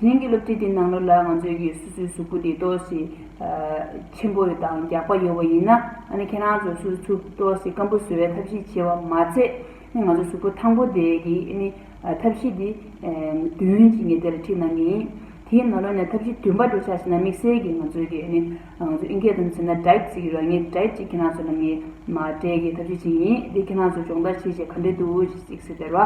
དེ་རིང་གི་སློབ་ཁྲིད་འདིའི་ནང་ལོ་ལ་ང་ཚོས་ཀྱི་སོ་སོའི་གཟུགས་པོ་འདི་ལྟོས་ཤིག་ཆེན་པོ་ཡོད་དང་རྒྱགས་པ་ཡོད་བ་ཡིན་ན་ཨ་ནི་ཁྱེད་རང་ཚོས་སོ་སོའི་ཚུགས་ལྟོས་ཤིག་སྐམ་པོ་བཟོ་བའི་ཐབས་ཤེས་བྱེད་བ་མ་ཚད་ཨ་ནི་ང་ཚོའི་གཟུགས་པོ་ཐང་པོ་དེ་གི་ཨ་ནི་ཐབས་ཤེས་འདི་བདུན་ཅིག་ངས་དེ་ལ་ཁྲིད་གནང་གི་ཡིན། དེའི་ནང་ལོ་ནས་ཐབས་ཤེས་བདུན་པ་འགྲོ་ཆགས་ཤིག་ན་དམིགས་བསལ་གྱི་ང་ཚོས་ཀྱི་ཨ་ནི་ང་ཚོ་ཨིན་སྐད་དུ་མཚོན་ན Diet ཞིག་ཡོད་ར་ངས Diet ཅིག་ཁྱེད་རང་ཚོ་ལ་ངས་མ་སྤྲད་ཀྱི་ཐབས་ཤེས་ཅིག་ཡིན་དེ་ཁྱེད་རང་ཚོས་སྦྱོང་བརྡར་བྱེད་བྱེད་ག་འདྲས་འདུག་ཅིག་ཟེར་བ།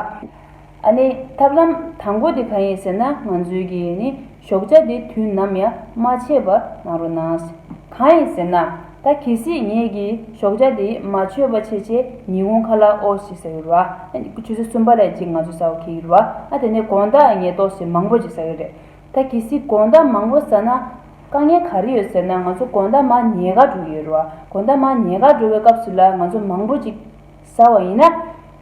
ཨ་ནི། ཐབས་ལམ་དང་པོ་དེ་གང་ཡིན་ཟེར་ན་ང་ཚོའི་གི་ནི་ཞོགས་ཇ་དེ་དུས་ནམ་ཡང་མ་ཆད་པར་གནང་རོགས་གནང། གང་ཡིན་ཟེར་ན། ད་གལ་སྲིད་ངས་གི་ཞོགས་ཇ་དེ་མ་ཆོད་པ་ཆེ་ཆེ་ཉི་ཧོང་ཁ་ལ་ཨོ་ཞིག་ཟ་གི་རུ་བ། ཆུ་ཚོད་གསུམ་པ་ལས་ཅིག་ང་ཚོ་ཟ་བ་ཁེལ་གི་རུ་བ་ཨ་དེ་ནས་དགོང་དག་ངས་ཏོག་སེ་མང་པོ་ཅིག་ཟ་གི་རེད། ད་གལ་སྲིད་དགོང་དག་མང་པོ་ཟ་ན། དཀའ་ངལ་ག་རེ་ཡོད་ཟེར་ན་ང་ཚོ་དགོང་དག་མ་ཉལ་ག་འགྲོ་གི་ཡོད་རུ་བ་དགོང་དག་མ་ཉལ་ག་འགྲོ་བའི་སྐབས་སུ་ལ་ང་ཚོ་མང་པོ་ཅིག་ཟ་བ་ཡིན་ན།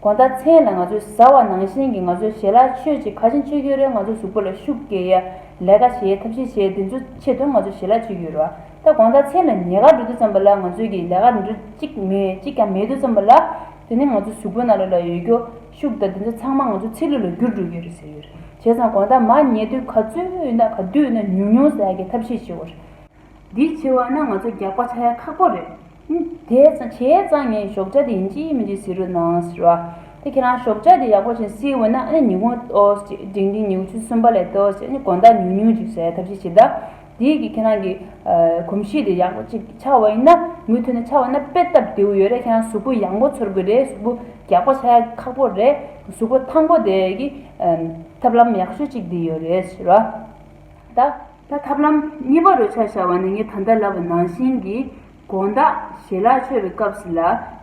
གོང་ལྟར་མཚན་ལ་ང་ཚོས་ཟ་བ་ནང་བཞིན་གྱི་ང་ཚོའི་ཞལ་ལག་མཆོད་ཅིག་ཁ་ཆེམས་མཆོད་རྒྱུ་རེད་ང་ཚོ་གཟུགས་པོ་ལ་ཤུགས་བསྐྱེད་ཡ་ལས་ཀ་བྱེད་ཡ་ཐབས་ཤེས་བྱེད་དེ་ཚོའི་ཆེད་དུ་ང་ཚོ་ཞལ་ལག་མཆོད་རྒྱུ་རེད་བ་ད་གོང་ལྟར་མཚན་ལ་ཉལ་ཁར་འགྲོ་དུས་ཙམ་པ་ལ་ང་ཚོའི་གི་ལས་ཀ་འདི་འདྲ་གཅིག་མེད་གཅིག་ཀྱང་མེད་དུས་ཙམ་པ་ལ་དེ་ནི་ང་ཚོ་གཟུགས་པོའི་ནང་ལ་ལ་ཡོད་རྒྱུ་ཤུགས་དང་དེ་ཚོ་ཚང་མ་ང་ཚོ་ཚིག་ལུས་ལ་རྒྱུར་འགྲོ་རྒྱུ་རེད་ཟེར་རྒྱུ་རེད་བྱས་ཙང་གོང་ལྟར་མ་ཉལ་དུས་ག་ཚོད་ན་ག་དུས་ན་ཉུང་ཉུང་ཟ་གི་ཐབས་ཤེས་བྱེད་དགོས་རེད། འདི་ཕྱི་བ་ན་ང་ཚོ་རྒྱག་པ་ཆགས་ཡ་ཁག་པོ་རེད། དེ་བྱས་ཙང་ངས་ཞོགས་ཇག་དེ་ཡིན་ཅི་ཡིན་མིན་ཅིག་ཟེར་རོགས་གནང་ཟེར་བ། དེ་ཁྱེད་རང་ཞོགས་ཇག་དེ་ཡག་པོ་བྱེད་སྲིད་འོ་ན་ཨ་ནི་ཉི་ཧོང་ཨོས་ཅིག་འགྲིག་འགྲིག་ཉིའུ་ཆུ་གསུམ་པ་ལས་ཏོས་ཅིག་ཨ་ནི་གོང་ད་ཉུག་ཉུག་ཅིག་བྱས་ཐབས་ཤིག་བྱེད་ད། དེས་ཀྱི་ཁྱེད་རང་གི། གོམས་གཤིས་དེ་ཡག་པོ་ཅིག་ཆགས་བ་ཡིན་ན། མུ་ཐུད་ནས་ཆགས་བ་ན་དཔེ་ལྟ་བདེའུ་ཡོད་རེད་ཁྱེད་རང་གཟུགས་པོ་ཡག་མགོ་འཚོར་དགོས་རེད་གཟུགས་པོ་རྒྱག་པ་ཆགས་ཡ་ཁག་པོ་རེད། གཟུགས་པོ་ཐང་པོ་དེ་ཀྱི། ཐབས་ལམ་ཡག་ཤོས་ཅིག་འདི་ཡོད་རེད་ཟེར་བ། ད། ད་ཐབས་ལམ་གཉིས་པ་རོལ་ཆ་བྱ་བ་ནི་ངས་ད་ལྟ་ལབ་པ་ནང་བཞིན་གྱི་དགོངས་དག་བཞེས་ལག་མཆོད་པའི་སྐབས་སུ་ལ་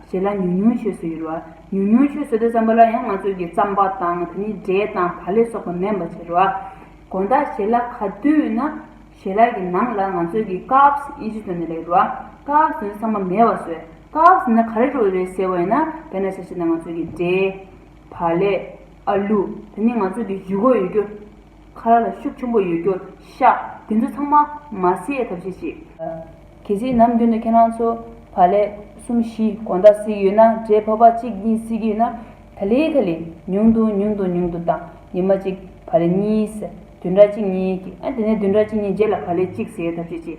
བཞེས་ལ་ཉུང་ཉུང་མཆོད་བཟོད་ཡོད་རོ། ཉུང་ཉུང་མཆོད་བཟོད་དུ་བརྩམས་པ་ལ་ཡང་ང་ཚོས་ཀྱི་བརྩམས་པ་དང་དེ་ནི་འབྲས་དང་བ་ལས་སོགས་པ་མེད་པ་བྱེད་རོ། དགོངས་དག་བཞེས་ལག་ག་དུས་ན་བཞེས་ལག་གི་ནང་ལ་ང་ཚོས་ཀྱི་ཀགས་དབྱེ་གཞི་དོན་ནི་ལེགས་རོ། ཀགས་དོན་ཚང་མ་མེད་བ་བཟོད། ཀགས་ནི་ག་རེ་རོལ་བའི་ཟེར་བ་ཡིན་ན་དེ་ན་བྱ་བྱེད་ན་ང་ཚོས་ཀྱི་འབྲས། བ་ལས། ཨ་ལུ། དེ་ནི་ང་ཚོས་ཀྱི་ཡུལ་གོ་ཡོད་རྒྱུ། ཁ་ལ་ཤུགས་ཆེན་པོ་ཡོད་རྒྱུར་ཤ། དེ་ཚོ་ཚང་མ་མ་བསད་ཐབས་ཤེས་ཤིག། གལ་སྲིད་ནམ་རྒྱུན་དུ་ཁྱེད་རང་ཚོ་བ་ལས་གསུམ་བཞི་གོང་ད་བསྲིགས་ཡོད་ན་འདྲེ་ཕོ་བ་གཅིག་གཉིས་བསྲིགས་ཡོད་ན་ད་ལེ་ད་ལེ་ཉུང་དུ་ཉུང་དུ་ཉུང་དུ་དང་ཉི་མ་གཅིག་བ་ལས་གཉིས་བསད་བདུན་ཕྲག་གཅིག་གཉིས་ཀྱིས་ཨ་དེ་ནས་བདུན་ཕྲག་གཅིག་གཉིས་རྗེས་ལ་བ་ལས་གཅིག་བསད་ཐབས་ཤེས་ཤིག།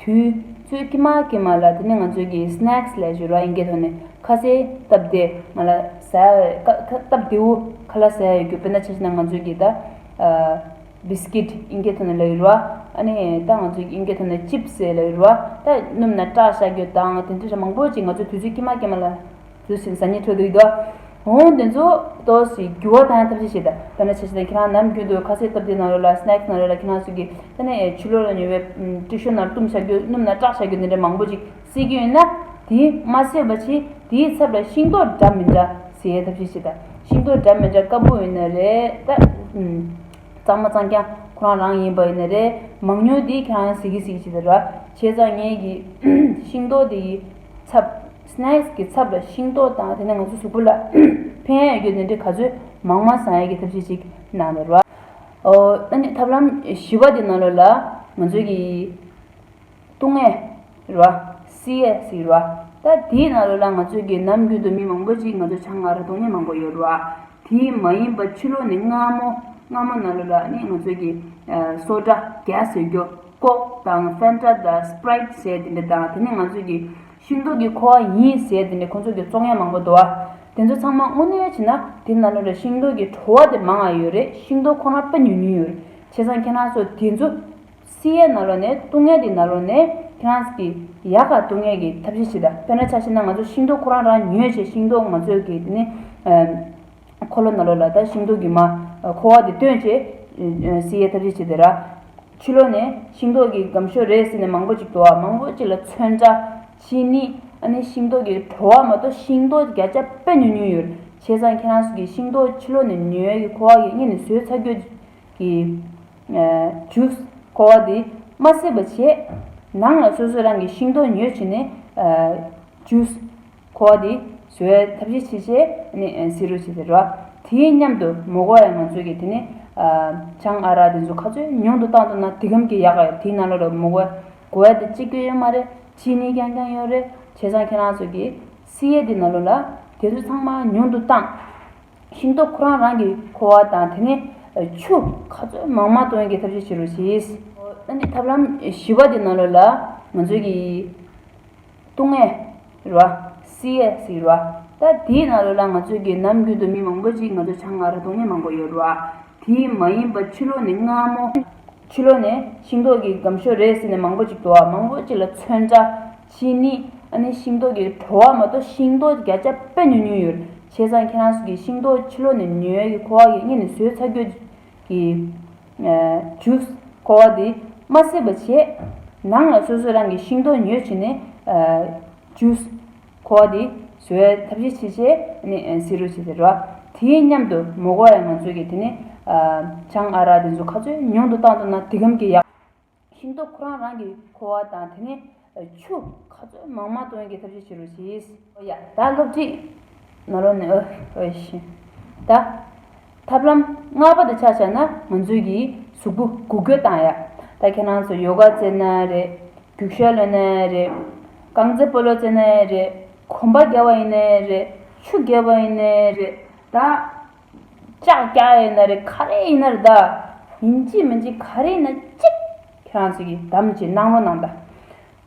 དུས་ཚོད་ཀྱི་མ་ཀྱི་མ་ལ་དེ་ནི་ང་ཚོས་ཀྱི Snacks ལས་བཞུར་བ་ཡིན་གྱི་ཐོག་ནས་ཁ་ཟས་སྟབས་བདེ་ང་ལ་ཟ་སྟབས་བདེ་བོ་ཁ་ལ་ཟ་ཡ་ཡོད་རྒྱུ་དཔེར་ན་ཆ་ཤས་ན་ང་ཚོས་ཀྱི་ད Biscuit ཡིན་གྱི་ཐོག་ནས་ལ་ཡུར་བ་ཨ་ནི་ད་ང་ཚོས་ཀྱི་ཡིན་གྱི་ཐོག་ནས Chips ལ་ཡུར་བ་ད་སྣུམ་ན་སྐྲག་ཤ་རྒྱོ་དང་དེ་འདྲ་ཧྲ་མང་པོ་ཅིག་ང་ཚོས་དུས་ཚོད་ཀྱི་མ་ཀྱི་མ་ལ་ཟུར་ཞིག་ཏུ་ཟ་ཉལ་ཁྲོད་དུ་ཡིད་དུ་འོང་བ་འདི་ཚོ་ལྟོས་ཤིག་རྒྱུ་བ་དང་ཐབས་ཤེས་བྱེད། ད་ནི་ཆ་ཤས་དང་ཁྱེད་རང་ནམ་རྒྱུན་དུ་ཁ་ཟས་སྟབས་བདེ་གནང་རོལ་ལ Snacks གནང་རོལ་ལ་ཁྱེད་རང་ཚོས་ཀྱིས་ད་ནི་ཆུ་ལོག་ལ་ཉོས་པའི་ཏྲི་ཤོ་ནར་བཏུམས་བྱ་རྒྱུ་སྣུམ་ནར་སྐྲག་བྱ་རྒྱུ་འདི་འདྲ་མང་པོ་ཅིག་བསྲེས་ཀྱི་ཡོད་ན། དེ་མ་བསྲེས་པ་ཕྱིན་དེའི་ཚབ་ལ་ཤིང་ཏོག་འདྲ་མི་འདྲ་བཟས་ཐབས་ཤེས་བྱེད། ཤིང་ཏོག་འདྲ་མི་འདྲ་དཀར་པོ་ཡིན་ན་རེད་ད། གཙང་མ་གཙང་རྐྱང་ཁོ་རང་རང་ཡིན་པ་ཡིན་ན་རེད། མང་ཉུང་དེ་ཁྱེད་རང་ཟེར་གི་ཟེར་གི་བྱེད་ད་ར། བྱས་ཙང་ངེད་ཀྱིས་ཤིང་ཏོག་དེ་ཡི་ཚབ། Snacks གི་ཚབ་ལ་ཤིང་ཏོག་དང་དེ་ནས་ང་ཚོའི་གཟུགས་པོ་ལ་ཕན་ཡོད་རྒྱུ་ནི་འདི་ག་ཚོད་མང་མང་བཟང་ཡོད་ཀྱི་ཐབས་ཤེས་ཅིག་གནང་ཡོད་རེད། ཨ་ནི་ཐབས་ལམ་བཞི་བ་དེ་ནང་ལོགས་ལ་ང་ཚོས་ཀྱི་ཏུང་ངེ་རེད། CS ཡོད་རེད། ད་དེའི་ནང་ལོགས་ལ་ང་ཚོས་ཀྱི་ནམ་རྒྱུན་དུ་མི་མང་པོ་ཅིག་ང་ཚོ་ཆང་ཁར་ཏུང་ངེ་མང་པོ་ཡོད་རེད། དེ་མ་ཡིན་པ་ཕྱི་ལོགས་ནས་སྔ་མོ་སྔ་མོ་ནང་ལོགས་ལ་ནི་ང་ཚོས་ཀྱི་སོ་ཏྲ། ཀྱ་ཟེར་རྒྱུ། ཀོག་དང་ཧྥན་ཏྲ་དང་སྤྲེད་ཟས་དེ་འདྲ་དང་དེ་ནི་ང་ཚོས་ཀྱི་ཤིང་ཏོག་གི་ཁོ་བ་ཡིན་ཟེར་ཏེ་ནི་ཁོ་ཚོ་གི་བཙོང་ཡ་མང་པོ་འདུག་ཨ། དེ་ཚོ་ཚང་མ་དངོས་གནས་བྱས་ན་དེ་ན་ནོ་རེ་ཤིང་ཏོག་གི་བྲོ་བ་དེ་མང་ཨ་ཡོད་རེད་ཤིང་ཏོག་ཁོ་རང་པེ་ཉུལ་ཉུལ་ཡོད་རེད་བྱས་ཙང་ཁྱེད་རང་ཚོ་དེ་ཚོ་སི་ཡའི་ན་ལོ་ནས་ལྟུང་ངེས་དེ་ན་ལོ་ནས་ཁྱེད་རང་ཚོ་གི་ཡ་ག་ལྟུང་ངེས་ཀྱི་ཐབས་ཤེས་བྱེད་ད་དཔེ་ན་ཆ་ཤེས་ན་ང་ཚོ་ཤིང་ཏོག་ཁོ་རང་རང་ཉོས་བྱས་ཤིང་ཏོག་ང་ཚོས་གི་དེ་ནི་ཁོ་ལོ་ན་ལོ་ལ་ད་ཤིང་ཏོག་གི་མ་ཁོ་བ་དེ་བཏོན་བྱས་སི་ཡའི་ཐབས་ཤེས་བྱེད་དེ་ར། ཕྱི་ལོ་ནས་ཤིང་ཏོག་གི་སྒམ་ཤོ་རེ་ཟིན་ནས་མང་པོ་ཅིག་འགྲོ་བ་མང་པོ་ཅིག་ལ་མཚོན་ཆ་ཕྱིན་ནི་ཨ་ནི་ཤིང་ཏོག་གི་བྲོ་བ་མ་གཏོགས་ཤིང་ཏོག་བརྒྱ་ཆ་པད་ཉུང་ཉུང་ཡོད་བྱས་ཙང་ཁྱེད་རང་ཚོ་གི་ཤིང་ཏོག་ཕྱི་ལོ་ནས་ཉི་འོད་ཀྱི་ཁོ་བ་གིས་རྙེད་ནས་ཟོས་ཚར་གྱོད་ཀྱི་ཇུས་ཁོ་བ་དེ་མ་བསྲེས་པ་བྱས་ནང་ལ་སོ་སོས་རང་གི་ཤིང་ཏོག་ཉོས་བྱས་ནས་ཇུས། ཁོ་བོ་དེ་བཟོད་ཡའི་ཐབས་ཤེས་བྱེད་ཅེས་ནི་ཟེར་རོ་ཞེས་ཟེར་རོ། དེ་སྙམ་དུ་མོ་ཁོ་བོ་ཡ་ང་ཚོས་ཀྱིས་དེ་ནི། ཆང་ཨ་རག་དེ་ཚོ་ཁ་ཚོས་ཉུང་དུ་བཏང་ཐུབ་ན་དེ་ཁམ་གྱི་ཡག་ག་ཡོད་དེའི་ནང་ལོགས་ལ་མོ་ཁོ་བོའི་དེ་ཅི་དགོས་ཡོད་མ་རེད་ཅི་ནི་ཀྱང་ཀྱང་ཡོད་རེད་བྱས་ཙང་ཁྱེད་རང་ཚོས་ཀྱིས་སི་ཡའི་དེ་ནང་ལོགས་ལ་དེ་ཚོ་ཚང་མ་ཉུང་དུ་བཏང། ཤིང་ཏོག་ཁོ་རང་རང་གི་ཁོ་བོ་དང་དེ་ནི། ཆུ་ཁ་ཚོས་མང་མང་བཏོན་གྱི་ཐབས་ཤེས་བྱེད་རོ་ཞེས། ཨ་ནི་ཐབས་ལམ་བཞི་བ་དེ་ནང་ལོགས་ལ་ང་ཚོས་ཀྱིས། ཏུང་ཨའི་ར། སི་ཨའི་སི་ར། ད་དེའི་ནང་ལོ་ལ་ང་ཚོའི་རྒྱལ་ནམ་རྒྱུན་དུ་མི་མང་པོ་ཅིག་ང་ཚོ་བྱང་ང་ར་ཏུང་ནི་མང་པོ་ཡོད་ར། དེ་མ་ཡིན་པ་ཕྱི་ལོ་ནི་སྔ་མོ། ཕྱི་ལོ་ནི་ཤིང་ཏོག་གི་སྒམ་ཤོ་རེད་ཟེར་ནས་མང་པོ་ཅིག་འགྲོ་བ་མང་པོ་ཅིག་ལ་མཚོན་འདྲ། ཕྱིས་ནི་ཨ་ནི་ཤིང་ཏོག་གི་བྲོ་བ་མ་གཏོགས་ཤིང་ཏོག་བརྒྱ་ཆ་དཔེ་ཉུང་ཉུང་ཡོད་ར། བྱས་ཙང་ཁྱེད་རང་ཚོ་གིས་ཤིང་ཏོག་ཕྱི་ལོ་ནི་ཉོས་ཀྱི་ཁོ་བ་ཡིན་ངས་ནི་ཟོས་ཚར་གྱོ། གི། འཇུ། འཁོར་བ་འདི། མ་སྲིད་པ་བྱས། ནང་ལ་སོ་སོས་རང་གི་ཤིང་ཏོག་ཉོས་བྱས་ནས། འཇུ། འཁོར་བ་འདི། བཟོ་བའི་ཐབས་ཤེས་བྱས་བྱས་ནས་བཟི་རུ་བྱས་བྱས་རུ། དེའི་མཉམ་དུ་མོ་གོ་ཡ་ང་ཚོས་ཀྱི་དེ་ནས། ཆང་ཨ་རག་དེ་ཚོ་ཁ་ཚོས་ཉུང་དུ་བཏང་ཐུབ་ན་དེ་ཁམས་ཀྱི་ཡག། ཤིང་ཏོག་ཁོ་རང་རང་གིས་ཁོ་བ་དང་དེ་ནས་ཆུ་ག་ཚོད་མང་མང་བཏོན་གྱི་ཐབས་ཤེས་བྱེད་རོགས་ཞེས། ཨོ་ཡ། ད་སློབ་ཁྲིད་ནང་རོལ་ནས་ཨོ་ཨེ་ཤི། ད། ཐབས་ལམ་སྔ་པོ་དེ་ཆགས་ཆགས་ན་ང་ཚོས་ཀྱིས་གཟུགས་པོ་གུག་སྐྱོ་བཏང་ཡ། ད་ཁྱེད་རང་ཚོ་ཡོ་ག་རྩེ་ན་རེད། རྒྱུགས་ཤོག་ལོན་ན་རེད། རྐང་རྩེད་སྤོ་ལོ་རྩེ་ན་རེད། གོམ་པ་བརྒྱབ་བ་ཡིན་ན་རེད། ཆུ་བརྒལ་བ་ཡིན་ན་རེད། ད། ལྕགས་རྐྱ་ཡིན་ན་རེད་ག་རེ་ཡིན་ན་རེད་ད། ཡིན་གྱི་མིན་གྱི་ག་རེ་ཡིན་ན་ཅིག། ཁྱེད་རང་ཚོ་གིས་དམ་གྱི་སྣང་བ་གནང་ད།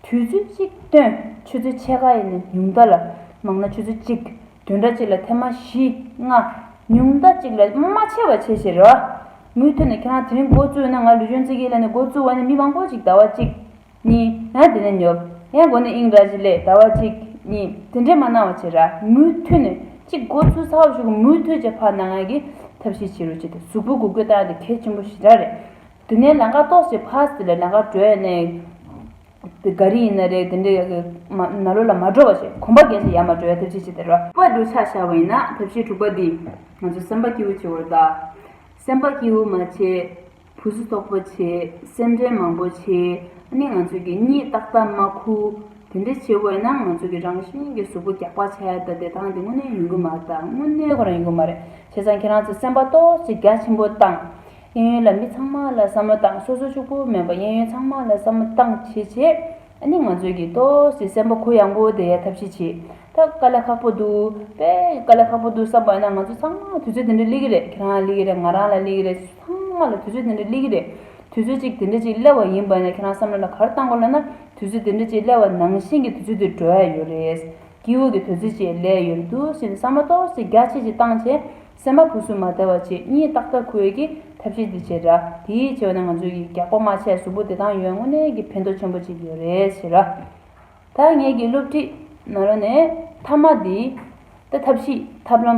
དུས་ཚོད་ཅིག་སྟོན་ཆུ་ཚོད་ཕྱེད་ཀ་ཡིན་ན་ཉུང་མཐའ་ལ། མང་ན་ཆུ་ཚོད་གཅིག་དུས་འདྲ་གཅིག་ལ་ཐེངས་མ་བཞི་ལྔ། ཉུང་མཐའ་གཅིག་ལ་མ་ཆེ་བ་ཆེ་ཆེར་རོ། མུ་མཐུད་ནས་ཁྱེད་རང་དེ་རིང་འགོ་བཙུགས་ན་ང་ལུས་སྦྱོང་རྩེད་ཀྱི་ལས་ནས་འགོ་བཙུགས་བ་ནི་མི་མང་པོ་ཅིག་ཟླ་བ་གཅིག། གཉིས། ཡང་དེ་ནས་ཉོབ། ཡང་སྒོ་ནས་དབྱིངས་ར་བཞི་ལས་ཟླ་བ་གཅིག། གཉིས། དེ་འདྲས་མ་གནང་བ་བྱེད་ར། མུ་མཐུད་ནས། གཅིག་སྒོ་ཚུལ་ཚ་བོ་ཞིག་གོ་མུ་མཐུད་ཅེས་ཕར་ནང་ངང་གིས་ཐབས་ཤེས་བྱེད་རོགས་བྱས་ཏེ་གཟུགས་པོ་གུ་གུལ་བཏང་སྟེ་གལ་ཆེན་པོ་ཞེ་དྲག་རེད། དེ་ནས་ལང་ཀ་གཏོགས་ཞེས་ཕར་ཟེར་ལ་ལང་ཀ་བྲོས་ནས། དེ་ག་རི་ཡིན་ན་རེད་དེ་འདྲས་ཡག་གི། ན་ལོ་ལ་མ་བྲོ་བ་ཞིག་གོམ་པ་འགས་ཤིག་ཡར་མར་བྲོས་ཡ་ཐབས་ཤེས་བྱེད་དེ་ར། པར་འགྲོ་ཆགས་ཤར་བ་ཡིན་ན་ཐབས་ཤེས་དྲུག་པ་འདིས། ང་ཚོ་སེམས་པ་སྐྱིད་བོ་བྱེད་བོར་གདའ། སེམས་པ་སྐྱིད་བོ་མ་བྱེད། བུ་སུ་རྟོག་པ་ཆེ། སེམས་ཅན་མང་པོ་ཆེ། ནི་ང་ཚོས་ཀྱི་གཉིད་རྟག་ཏག་མ་ཁུ། དེ་འདྲ་བྱེད་དགོས་ན་ང་ཚོས་ཀྱི་རང་བཞིན་གྱི་གཟུགས་པོ་རྒྱག་པ་བྱས་ད་དེ་དང་དེ་དངོས་གནས་ཡོང་གི་མ་རེད་དངོས་གནས་ཁོ་རང་ཡོང་གི་མ་རེད་བྱས་ཙང་ཁྱེད་རང་ཚོས་སེམས་པ་རྟོགས་བྱེད་རྒྱ་ཆེན་པོ་བཏང། གཡས་གཡོན་ལ་མི་ཚང་མ་ལ་བསམ་བློ་བཏང་སོ་སོ་ཕྱུག་པོ་མེད་པ་གཡས་གཡོན་ཚང་མ་ལ་བསམ་བློ་བཏང་བྱས་བྱས། ནི་ང་ཚོས་ཀྱི་རྟོགས་བྱེད་སེམས་པ་ཁོ་ཡངས་པོ་དེ་ཐབས་ཤེས་བྱེད་ད་དཀའ་ལས་ཁག་པོ་འདུག་དཔེ་དཀའ་ལས་ཁག་པོ་འདུག་བསམ་པ་ཡིན་ན་ང་ཚོ་ཚང་མ་དུས་ཚོད་དེ་འདྲ་གླེགས་ཀྱི་རེད་ཁྱེད་རང་ལ་གླེགས་ཀྱི་རེད་ང་རང་ལ་གླེགས་ཀྱི་རེད། ཚང་མ་ལ་དུས་ཚོད་དེ་འདྲ་སླེ་གི་རེད། དུས་ཚོད་ཅིག་དེ་འདྲ་ཅིག་སླེ་བ་ཡིན་པ་ནས་ཁྱེད་རང་བསམ་བློ་ལ་གར་བཏང་གོ་ལ་ན་དུས་ཚོད་དེ་འདྲ་ཅིག་སླེ་བ་ནང་བཞིན་གྱི་དུས་ཚོད་དེ་འགྲོ་ཡ་ཡོད་རེད། དཀྱིལ་འོག་གི་དུས་ཚོད་ཅིག་སླེ་ཡོད་རེད་འདུག་ཞེས་བསམ་བློ་ཏོག་ཙེ་རྒྱ་ཆེ་ཞིག་བཏང་རྗེས་སེམས་པ་ཕུ་སུ་མ་བདེ་བ་ཆེ་གཉིད་ཏག་ཏག་ཁུལ་གྱིས་ཐབས་ཤེས་དེ་བྱེད་འདྲ་དེའི་ཆེ་བ་ནི་ང་ཚོས་ཀྱི་རྒྱག་པོ་མ་ཆད་གཟུགས་པོ་བདེ་ཐང་ཡོད་དངོས་གནས་ཀྱི་ཕན་ཐོགས་ཆེན་པོ་ཅིག་ཡོད་རེད་ཞེས་ར་ད་ངེད་ཀྱི་སློབ་ཁྲིད་ནང་ར་ནས་མཐའ་མ་དེའི་ཐབས་ཤེས་ཐབས་ལམ།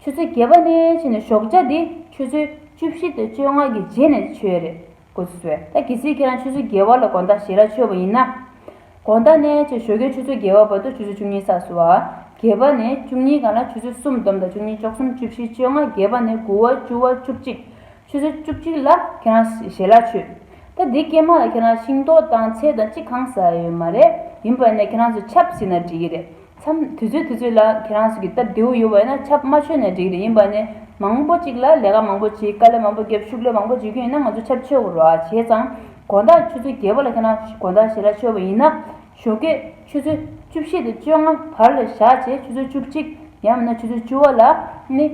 ཆུ་ཚོད་བརྒྱད་པ་ནས་ཕྱིན་ནས་ཞོགས་ལྕགས་འདི་ཆུ་ཚོད་བཅུ་བཞི་དང་བཅོ་ལྔ་གི་རྗེས་ནས་ཆོད་རེད་གོ་ཟེར་ད་གི་སྲིད་ཁྱེད་རང་ཆུ་ཚོད་བརྒྱད་བར་ལ་དགོན་བདག་ཞེས་ར་ཆོད་པ་ཡིན་ན། དགོན་བདག་ནས་ཅེས་ཞོ་ཁྱོད་ཆུ་ཚོད་བརྒྱད་བར་བར་དུ་ཆུ་ཚོད་བཅུ་གཉིས་ས་སུ་བ་བརྒྱད་པ་ནས་བཅུ་གཉིས་གང་ལ་ཆུ་ཚོད་སུམ་སྡོམ་དང་བཅུ་གཉིས་ཅོག་གསུམ་བཅུ་བཞི་བཅོ་ལྔ་བརྒྱད་པ་ནས་དགུ་བ་བཅུ་བ་བཅུ་གཅིག་ཆུ་ཚོད་བཅུ་གཅིག་ལ་ཁྱེད་རང་ཞེས་ར་ཆོད། ད་འདི་སྐྱེས་མ་ལ་ཁྱེད་རང་ཤིང་ཏོག་དང་ཚལ་དང་ཅི་གང་ཟ་ཡོད་མ་རེད་ཡིན་པ་ནས་ཁྱེད་རང་ཚོས་ཆབ་སྲིད་ན་འགྲིག་གི་རེད། མཚམས་དུས་ཚོད་དུས་ཚོད་ལ་ཁྱེད་རང་ཚོ་གི་སྟབས་བདེའུ་ཡོད་བས་ན་ཆབ་མ་ཆོད་ནས་འགྲིག་རེད་ཡིན་པ་ནི་མང་པོ་ཅིག་ལ་ལས་ཀ་མང་པོ་བྱེད་དཀའ་ལས་མང་པོ་བརྒྱབ་ཤུགས་ལས་མང་པོ་བརྗེ་རྒྱུ་ཡིན་ན་ང་ཚོ་ཆབ་ཆོད་བར་བ་བྱས་ཙང་དགོང་དག་ཆུ་ཚོད་བརྒྱད་པོ་ལ་ཁྱེད་རང་ཚོ་དགོང་དག་ཞལ་ལག་མཆོད་བ་ཡིན་ན་ཞོགས་དགེ་ཆུ་ཚོད་བཅུ་བཞི་དང་བཅོ་ལྔ་བར་ལ་བཞག་བྱས་ཆུ་ཚོད་བཅུ་གཅིག་ཡང་མིན་ན་ཆུ་ཚོད་བཅུ་བ་ལ་ནི་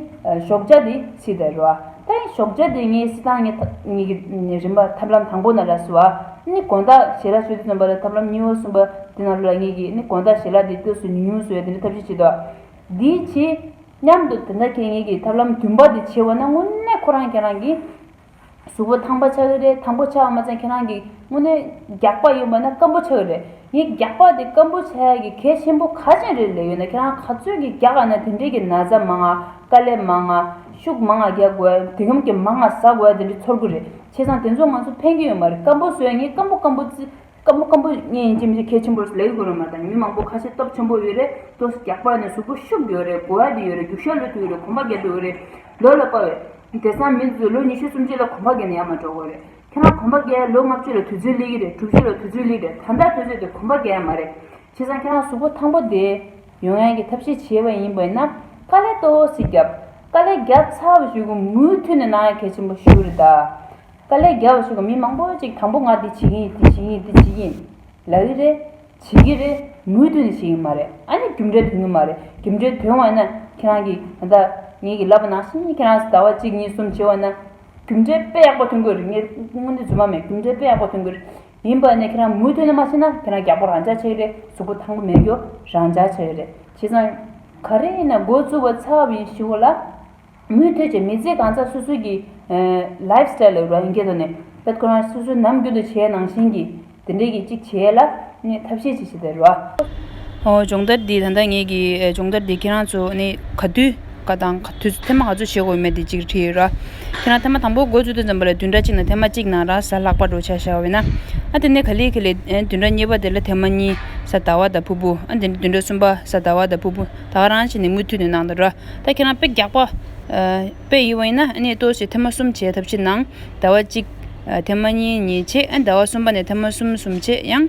ཞོགས་ཇ་དེ་ཚིག་དར་བ། ད་ཡིན་ཞོག་བྱ་དེ་ངའི་སྲིད་ཏང་གཉིས་ཀྱི་རིམ་པ་ཐབས་ལམ་དང་པོ་ན་ལ་སུ་བ་ནི་དགོན་བདག་ཞལ་ལག་སུས་དེ་བཏོན་པ་ལ་ཐབས་ལམ་གཉིས་བོ་གསུངས་པ་དེ་ན་ལོ་ལ་ངེད་ཀྱིས་ནི་དགོན་བདག་ཞལ་ལག་དེ་དུས་སུ་ཉུང་ཉུང་སུ་བས་དེ་འདྲ་ཐབས་ཤེས་བྱེད་དོ། དེའི་ཕྱིས། སྙམ་དུ་དེ་འདྲ་ཁྱེད་ངེད་ཀྱིས་ཐབས་ལམ་བདུན་པ་དེ་བྱེད་བ་ན་དངོས་གནས་ཁོ་རང་ཁྱེད་རང་གིས་གཟུ་བོ་ཐང་པ་ཆགས་ཀྱི་རེད་ཐང་པོ་ཆགས་པ་མ་ཚང་ཁྱེད་རང་གིས་དངོས་གནས་རྒྱགས་པ་ཡིན་པ་ན་སྐམ་པོ་ཆགས་ཀྱི་རེད་ངས་རྒྱགས་པ་དེ་སྐམ་པོ་ཆགས་ཡ་གི་གལ་ཆེན་པོ་ག་ཅན་རེད་ལས་ཡོད་ན་ཁྱེད་རང་ག་ཚོད་ཀྱིས་རྒྱགས་ཡ་ན་དེ་འདྲས་ཀྱི་ན་ཚ་མང་ང་དཀའ་ལས་མང་ང། ཤུགས་མ་ང་རྒྱག་དགོས་དེ་སྒམ་གྱི་མ་ང་ཟ་དགོས་དེ་འདྲ་ཚོར་གི་རེད་བྱས་ཙང་དེ་ཚོ་ང་ཚོ་ཕན་གྱི་ཡོད་མ་རེད་སྐམ་པོ་བཟོས་ངས་སྐམ་པོ་སྐམ་པོ་ཙི་སྐམ་པོ་སྐམ་པོ་ངས་ཡིན་གྱི་མི་ཚེ་གལ་ཆེན་པོར་ལེགས་དགོས་རེད་མ་ད་མི་མང་པོ་ཁ་ཤས་སྟོབས་ཆེན་པོ་ཡོད་རེད་ལྟོས་ས་རྒྱག་པ་ནས་གཟུགས་པོ་ཤུགས་ཡོད་རེད་གོ་བ་དེ་ཡོད་རེད་རྒྱུག་ཤ་ལོས་ཐུག་ཡོད་རེད་གོམ་པ་རྒྱག་གི་ཡོད་རེད་ལོས་ལ་དཔའ་བས། དེ་སང་མི་ཚོས་ལོ་ཉི་ཤུ་སུམ་ཅུ་ལ་གོམ་པ་རྒྱག་ནས་ཡར་མ་འགྲོ་དགོས་རེད་ཁྱེད་རང་གོམ་པ་རྒྱག་ཡ་ལོ་ལྔ་བཅུ་ལ་དུས་ཚོད་སླེ་གི་རེད་དྲུག་བཅུ་ལ་དུས་ཚོད་སླེ་གི་རེད་ད་ལྟ་ཁྱོད་ཚོས་དེ་གོམ་པ་རྒྱག་ཡ་མ་རེད་ཁྱེད་རང་ཁྱེད་རང་གཟུགས་པོ་ཐང་པོ་དེ། ཡོང་ཡང་གི་ཐབས་ཤེས་བྱེད་པ་ཡིན་པས་ན་དཀའ་ལས་ཏོ་སི་རྒྱབ། དཀའ་ལས་རྒྱབ་ཚར་བ་ཞིག་གི་མུའུ་མཐུད་ནས་ནང་ཡ་གད་ཆེན་པོ་ཞུ་རེ་ད། དཀའ་ལས་རྒྱབ་བ་ཞིག་གི་མི་མང་པོ་ཅིག་དང་པོ་ང་འདི་བྱེད་ཀྱིན་ཡིན་འདི་བྱེད་ཀྱིན་ཡིན་འདི་བྱེད་ཀྱིན་ལ་རི་རེད། བྱེད་ཀྱི་རེད་མུའུ་མཐུད་ནས་བྱེད་ཀྱི་མ་རེད་ཨ་ནི་རྒྱུ་འབྲས་དོན་གྱི་མ་རེད་རྒྱུ་འབྲས་དོན་བ་ན་ཁྱེད་རང་གི་ད་ལྟ་ངེད་ཀྱི་ལབ་པ་ནང་བཞིན་ཁྱེད་རང་ཟླ་བ་གཅིག་གཉིས་གསུམ་བྱེད་བ་ན། རྒྱུ་འབྲས་དཔེ་ཡག་པོ་ཐོན་དགོས་རེད་ངེད་སྔོན་དུས་རྫུན་མ་མེད་རྒྱུ་འབྲས་དཔེ་ཡག་པོ་ཐོན་དགོས་རེད་ཡིན་པ་ནས་ཁྱེད་རང་མུ་མཐུད་ནས་མ་བྱེད་ན་ཁྱེད་རང་རྒྱ་པོ་རང་འཇགས་བྱས་ཡོད་རེད་གཟུགས་པོ་ཐང་པོ་མེད་རྒྱུ་རང་འཇགས་བྱས་ཡོད་རེད་བྱས་ཙང། ག་རེ་ཡིན་ན་མགོ་བཙུགས་པ་ཚབ་ཡིན་ཞུ་གོ་ལ། མུ་མཐུད་བྱས་མི་ཚེ་གང་ཚ་སོ་སོའི་གི། Life Style། ལོས་རང་སྐྱེད་དོ་ནས་ཕེད་ཁོ་རང་སོ་སོའི་ནམ་རྒྱུན་དུ་བྱས་ནང་བཞིན་གི་དེ་འདྲས་གི་ཅིག་བྱས་ལ་ནས་ཐབས་ཤེས་ཅིག་བྱས་ད་རོ། སྦྱོང་བརྡར་འདི་ད་ལྟ་ངེད་ཀྱི་སྦྱོང་བརྡར་འདི་ཁྱེད་རང་ཚོ་ནས་ག་དུས། ཀ་དང། ཐེམ་མ་ག་ཚོད་བྱེད་དགོས་མེད་དེ་གཅིག་བྲིས་ཡོད་ར། ཁྱེད་རང་ཐེམ་མ་དང་པོ་སྒོ་བཙུགས་དུས་ཙམ་པོ་ལ་བདུན་ཕྲག་གཅིག་ནང་ཐེམ་མ་གཅིག་ནང་ར་ས་ལྷག་པར་འགྲོ་བྱ་ཞེས་བ་ན། ཨ་དེ་ནས་ག་ལེ་གི་ལས། བདུན་ཕྲག་གཉིས་པ་དེ་ལ་ཐེམ་མ་གཉིས་ས་ད་བ་ད་ཕུ་ཕུ། ཨ་དེ་ནས་བདུན་ཕྲག་གསུམ་པ་ས་ད་བ་ད་ཕུ་ཕུ། ད་ག་རང་བྱེད་ནས་མུ་མཐུད་ནས་གནང་དང་ར། ད་ཁྱེད་རང་དཔེ་རྒྱག་པ། དཔེ་ཡིན་བ་ཡིན་ན་ཨ་ནས་ལྟོས་ཤིག་ཐེམ་མ་གསུམ་བྱས་ཐབས་ཤེས་གནང། ད་བ་གཅིག། ཐེམ་མ་གཉིས་གཉིས་བྱས་ཨ་ད་བ་གསུམ་པ་ནས་ཐེམ་མ་གསུམ་གསུམ་བྱས་ཡང།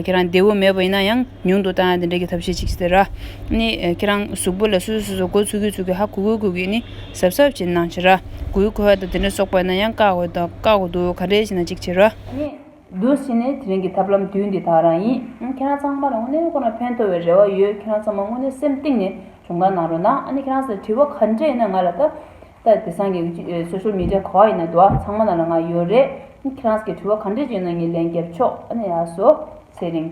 ཁྱེད་རང་བདེ་བོ་མེད་པ་ཡིན་ན་ཡང། ཉུང་དུ་བཏང་ཡང་དེ་འདྲ་གི་ཐབས་ཤེས་གཅིག་ཟེར་ར། ནི། ཁྱེད་རང་གཟུགས་པོ་ལ་སོ་སོ་སོ་སོ་གོ་ཚུགས་གི་ཚུགས་གི་ཧ་གོ་གོ་གོ་གི་ནི་ཟབ་ཟབ་བྱེད་སྣང་བྱེད་ར། གོའི་གོ་ཧ་དང་དེ་འདྲ་སོགས་པ་ན་ཡང་བཀག་འོས་དང་བཀག་གོ་འདུག་ག་འདྲའི་བྱེད་ན་གཅིག་བྱེད་ར། ནི། འདུག་བྱེད་ནི་དེ་རིང་གི་ཐབས་ལམ་དུས་འདི་དག་རང་ཡིན། ཁྱེད་རང་ཚང་མ་ལ་དངོས་གནས་ཁོ་ན་ཕན་ཐོགས་བའི་རེ་བ་ཡོད་ཁྱེད་རང་ཚང་མ་དངོས་གནས་སེམས་གཏིང་ནས་གྱོང་གང་གནང་རོགས་གནང་ཨ་ནི་ཁྱེད་རང་ཚོ་ལ་དྲི་བ་ག་འདྲས་ཡིན་ན་ང་ལ་ད་ལྟ་དེ་སང་གི Social Media ག་བ་ཡིན་ན་དུ་བ་ཚང་མ་ན་ལ་ང་ཡོད་རེད་ཁྱེད་རང་ཚོ་གི་དྲི་བ་ག་འདྲས་ཅིག་ཡིན་ན་ངས་ལན་རྒྱབ་ཆོག་ཨ་ནི་ཡ་སོ། ཚེ་རིང།